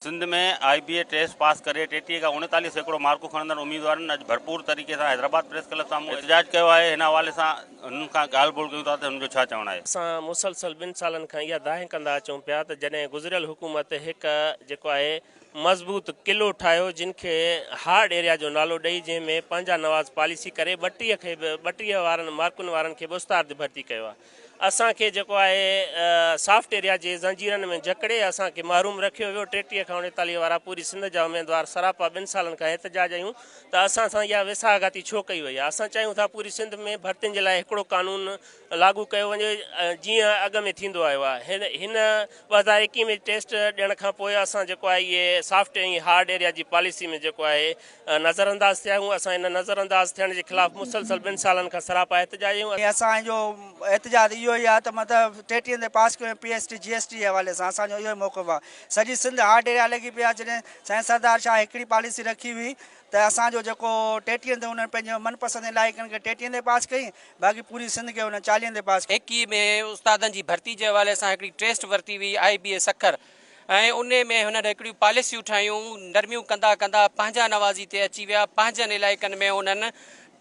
Sindh ۾ I B A test pass ڪري ٽيٽيهه کان اڻيتاليهه سيڪڙو مارڪون کڻندڙ اميدوارن اڄ ڀرپور طريقي سان حيدرآباد پريس ڪلب سامهون احتجاج ڪيو آهي، هن حوالي سان هنن کان ڳالهه ٻولهه ڪيون ٿا ته هنن جو ڇا چوڻ آهي. اسان مسلسل ٻن سالن کان اها دانهن ڪندا اچون پيا ته جڏهن گذريل حڪومت هڪ جيڪو آهي مضبوط قلعو ٺاهيو جن کي هارڊ ايريا جو نالو ڏئي جنهن ۾ پنهنجا نواز پاليسي ڪري ٻٽيهه کي به ٻٽيهه وارن مارڪن وارن کي به استاد ڀرتي ڪيو آهي. اسان کي جيڪو آهي سافٽ ايريا جي زنجيرن ۾ جڪڙي اسان کي محروم رکيو ويو، ٽيٽيهه کان اڻيتاليهه وارا پوري سنڌ جا اميدوار سراپا ٻن سالن کان احتجاج ۽ ته اسان سان اها ويساهه گهاتي ڇو ڪئي وئي آهي، اسان چاهيون ٿا پوري سنڌ ۾ ڀرتين جي لاء هڪڙو قانون لاڳو ڪيو وڃي جيئن اڳ ۾ ٿيندو آيو آهي هن ٻه هزار ايڪيهه ۾ ٽيسٽ ڏيڻ کان پوء اسان جيڪو آهي اهي سافٽ ۽ هارڊ ايريا جي پاليسي ۾ جيڪو آهي نظر انداز ٿيا آهيون، اسان ان نظر انداز ٿيڻ جي خلاف مسلسل ٻن سالن کان سراپا احتجاجي آهيون. ۽ اسان جو احتجاج اهو ئي آهي ته مطلب ٽيٽي تي پاس ڪيو ۽ P S T G S T جي حوالي سان اسان جو اهو ئي موقف آهي سڄي سنڌ هارٽ ڊيريا لڳي پئي آهي جڏهن سائين سردار شاهه هڪڙي پاليسي رکي هئي ته اسان جو جيڪو ٽيٽي تي انهن پنهنجي من پسند علائقن کي ٽيٽي تي پاس ڪئي باقي پوري سنڌ کي انهن چاليهن تي پاس ڪئي. هيڪي ۾ استادن جي ڀرتي جي حوالي سان هڪڙي ٽيسٽ ورتي وئي آئي بي اي سکر ۽ انهي ۾ هنن هڪڙيون پاليسيون ٺاهيون، نرميون ڪندا ڪندا پنهنجا نوازي تي اچي ويا، پنهنجن علائقن ۾ انهن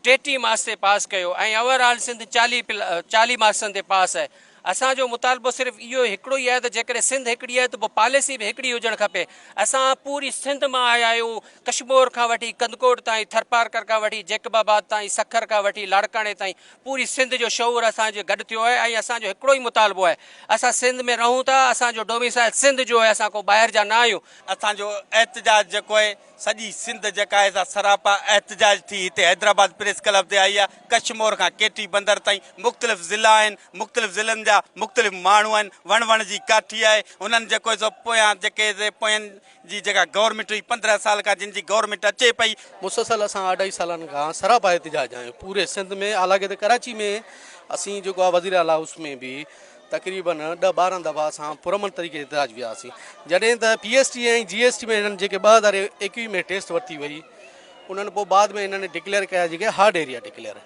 ٽيٽي مارڪس تي پاس ڪيو ۽ اوور آل سنڌ چاليهه چاليهه مارڪسن تي پاس آهي. اسان جو مطالبو صرف اهو هڪڙو ئي آهي ته جيڪڏهن سنڌ هڪڙي آهي ته پوء پاليسي به هڪڙي هجڻ کپي. اسان پوري سنڌ مان آيا آهيون، ڪشمور کان وٺي ڪنڌڪوٽ تائين، ٿرپارڪر کان وٺي جيڪب آباد تائين، سکر کان وٺي لاڙڪاڻي تائين، پوري سنڌ جو شعور اسان جي گڏ ٿيو آهي ۽ اسان جو هڪڙو ئي مطالبو آهي اسان سنڌ ۾ رهون ٿا اسان جو ڊوميسائل سنڌ جو آهي اسان ڪو ٻاهر جا نه آهيون. اسان جو احتجاج جيڪو آهي سڄي سنڌ جيڪا آهي سا سراپا احتجاج ٿي هتي حيدرآباد پريس ڪلب تي آئي آهي ڪڇ مور کان ڪي ٽي بندر تائين مختلف ضلعا آهن مختلف ضلعن جا مختلف ماڻهو آهن وڻ وڻ جي ڪاٺي آهي انهن جيڪو آهي سو پويان جيڪي پوين جي جيڪا گورنميٽ هئي پندرهن سال کان جن جي گورنميٽ اچي پئي. مسلسل اسان اڍائي سالن کان سراپا احتجاج آهيون پوري سنڌ ۾ حالانڪ ته ڪراچي ۾ اسين جيڪو آهي وزير اعليٰ هائوس ۾ به تقريبن ڏهه ٻارهن دفعا اسان پرامن طريقي احتجاج ويا هئاسين جڏهن ته P S T ۽ G S T ۾ هنن جيڪي ٻه هزار ايڪويهه ۾ ٽيسٽ ورتي وئي انهن پوء بعد ۾ هنن ڊڪليئر ڪيا جيڪي هارڊ ايريا ڊڪليئر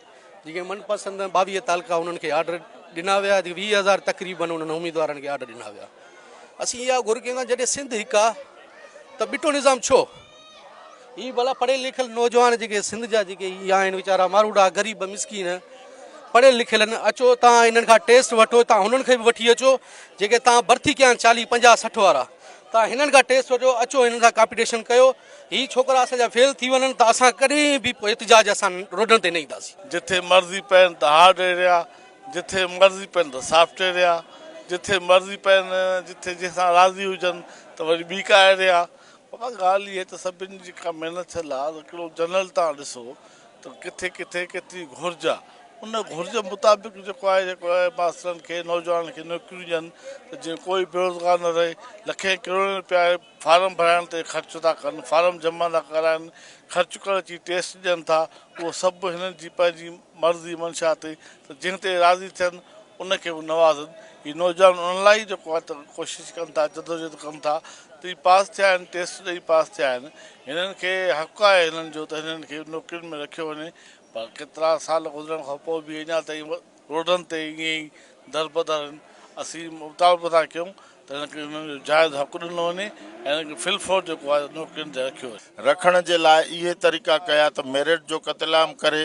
جيڪي من پسند ٻاويهه تعلقا انهن کي آرڊر ڏنا ويا ويهه هزار تقريبن انهن اميدوارن کي آرڊر ڏنا ويا. اسين اها گهر ڪيون ڪان جڏهن سنڌ هڪ آ ته ٻٽو نظام ڇو؟ هي ڀلا پڙهيل لکيل نوجوان جيڪي سنڌ جا جيڪي هي آهن ويچارا ماروڊا غريب مسڪين پڙهيل لکيل اچو تان هنن کان ٽيسٽ وٺو تان هنن کي به وٺي اچو جيڪي تان برٿي ڪيا آهن چاليهه پنجاهه سٺ وارا تان هنن کان ٽيسٽ وٺو اچو هنن سان ڪامپيٽيشن ڪيو هي ڇوڪرا اسان جا فيل ٿي وڃن ته اسان ڪڏهن به احتجاج اسان روڊن تي نه اينداسين. جتي مرضي پين ته هارڊ ايريا جٿي مرضي پين ته سافٽ ايريا، جٿي مرضي پين، جٿي جنهن سان راضي هجن ته وري ٻي ڪا ايريا. بابا ڳالهه اها ته سڀني جي ڪا محنت ٿيل آهي ته ڪهڙو جنرل تان ڏسو ته ڪٿي ڪٿي ڪيتري گهرج آهي ان گهرج مطابق جيڪو آهي جيڪو آهي ماسترن کي نوجوانن کي نوڪريون ڏين ته جيئن ڪوئي بيروزگار نه رهي لکين ڪروڙين روپيا فارم ڀرائڻ تي خرچ ٿا ڪن فارم جمع ٿا ڪرائن خرچ ڪرڻ جي ٽيسٽ ڏين ٿا اهو سڀ هنن جي پنهنجي مرض جي منشا تي ته جنهن تي راضي ٿين ان کي به نوازن. هي نوجوان ان لاء ئي جيڪو آهي ته ڪوشش ڪن ٿا، جدوجهد ڪن ٿا ته هي پاس ٿيا آهن، ٽيسٽ ڏئي پاس ٿيا آهن، هنن کي حق آهي هنن جو ته هنن کي نوڪرين ۾ رکيو وڃي پر ڪيترا سال گذرڻ کان پوء به اڃا تائين روڊن تي ائين ئي دربدر آهن. اسين مطالبو ٿا ڪيون ته هن کي انهن جو جائز حق ڏنو وڃي ۽ هن کي في الفور جيڪو آهي نوڪرين تي رکيو وڃي. رکڻ جي لاء اهي طريقا ڪيا ته ميرٽ جو قتل عام ڪري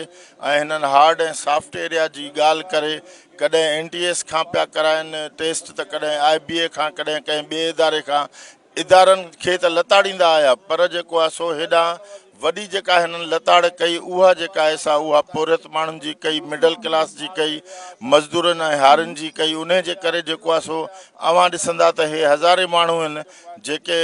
۽ هنن هارڊ ۽ سافٽ ايريا جي ڳالهه ڪري ڪڏهن اين ٽي ايس کان پيا ڪرائين ٽيسٽ ته ڪڏهن آء بي اي کان ڪڏهن ڪنهن ٻئي اداري کان ادارن کي ته لتاڙيندا آيا پر جيڪو آهي سو هيڏانهن وڏي جيڪا هنن لتاڙ ڪئي اها جيڪا آهي سا اها پورهيت ماڻهن جي ڪئي مڊل ڪلاس جي ڪئي مزدورن ۽ هارين جي ڪئي انهي جي ڪري جيڪو آهي سو اوهان ڏسندا ته هي هزارين ماڻهو هن جيڪي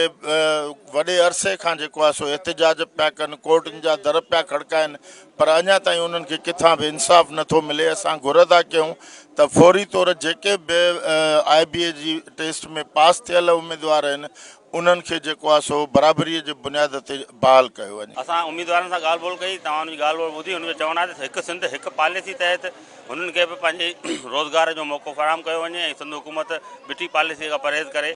وڏي عرصي کان جيڪو آهي سو احتجاج پيا ڪن ڪورٽن جا در پيا کڙڪائن پر اڃا تائين انهن کي ڪٿان به انصاف نٿو ملي اسان گهر ٿا ڪيون ته فوري طور جيڪي به آء بي اي جي ٽيسٽ ۾ پاس ٿيل اميدوار آهن انهن کي جيڪو آهي سو برابريء جي بنياد تي بحال ڪيو وڃي. اسان اميدوارن سان ڳالهه ٻولهه ڪئي، توهان انهن جي ڳالهه ٻولهه ٻڌي، انهن جو چوڻ آهي ته هڪ سنڌ هڪ پاليسي تحت هنن کي به پنهنجي روزگار جو موقعو فراهم ڪيو وڃي ۽ سنڌ حڪومت بٺي پاليسيء کان پرهيز ڪري.